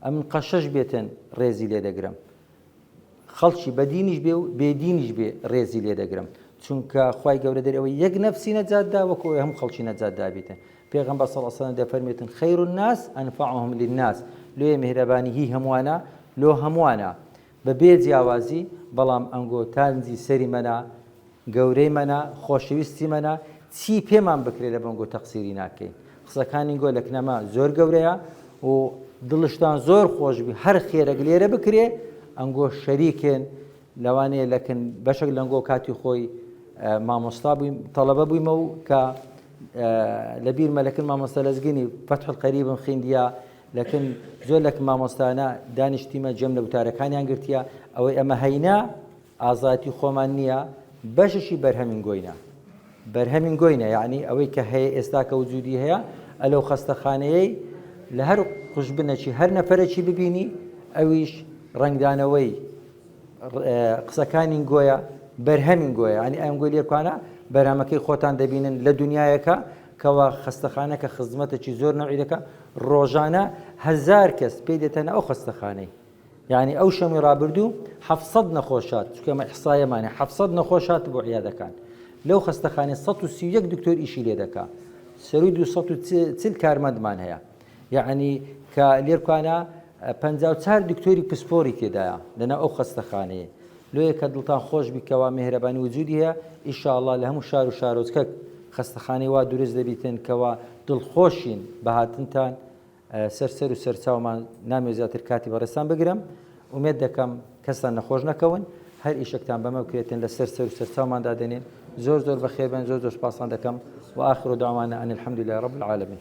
ئەمن قەشەش بێتن ڕێزی لێ دەگرم. خەڵکی بە دینیش بێ و بێ دینیش بێ ڕێزی لێ دەگرم چونکە خی گەورە دەر ئەوەی یەک نەفسی نەجاتدا وەکو ئەوی هەم خەڵکی نەجاتدابیتن پێغم بە سەڵسەن دەفەرمێتن خەیر و ناس ئەنفعهم للناس لێ میهرەبانی هی هەمووانە لۆ هەمووانە بە بێ جیاوازی بەڵام ئەنگۆ تانجی سەری مەنا گەورەی مەنا خۆشەویستی مەنا چی پێمان بکرێ لە بەنگۆ تەقسیری ناکەین قسەکانی گۆ لە کنەما زۆر گەورەیە و دڵشتان زۆر خۆشبی هەر خێرەک لێرە بکرێ ئەنگۆ شەریکێن لەوانەیە لەکن بەشێک لەنگۆ کاتی خۆی مامۆستا بوویم تەڵەبە بوویمە و کە لە بیرمە لەکن مامۆستا لەزگینی فەتح قەریبم خیندیا لەکن زۆر لەکن مامۆستانە دانیشتیمە جێم لە وتارەکانیان گرتیە ئەوەی ئەمە هەینە ئازایەتی خۆمان نییە بەششی بەرهەمین گۆینە بەرهەمین گۆینە یعنی ئەوەی کە هەیە ئێستاکە وجودی هەیە ئەلەو خەستەخانەیەی لە هەر قوشبنەکی هەر نەفرەکی ببینی ئەویش ڕنگدانەوەی قسەکانی گۆیە بەرهەمین گۆیە ئەنی ئەم گۆی لێکوانە بەرهەمەکەی خۆتان دەبینن لە دنیایەکە کوا خەستەخانە کە خزمەتەکی زۆر نەوعی دەکا ڕۆژانە هەزار کەس پێی دەتەنە ئەو خەستەخانەی یعنی ئەو شەمی ڕابردوو حەفت سەد نەخۆش هات چونکە ئێمە ئیحسایەمانە حەفت سەد نەخۆش هات بۆ عیادەکان لەو خەستەخانەی سەد و سی و یەک دکتۆر ئیشی لێ دەکا سەرووی دوو سەد و چل کارمەندمان هەیە یەعنی کە لێرکوانا پەنجا و چار دکتۆری پسپۆری تێدایە لەناو ئەو خەستەخانەیە لۆیە کە دڵتان خۆش بی کەوا مێهرەبانی وجودی هەیە ئیشاڵا لە هەموو شار و شارۆچکەک خەستەخانەی وا دروست دەبیتن کەوا دڵخۆشین بە هاتنتان سەر سەر و سەرچاومان نامێ زیاتر کاتی بەڕێستان بگرم ئومێد دەکەم کەستان نەخۆش نەکەون هەر ئیشکتان بەمە بکرێتن لە سەر سەر و سەرچاومان دادێنێ زۆر زۆر بەخێبن زۆر زۆر سپاسان دەکەم و آخر داوانە ئەن الحمد لله رب العالمین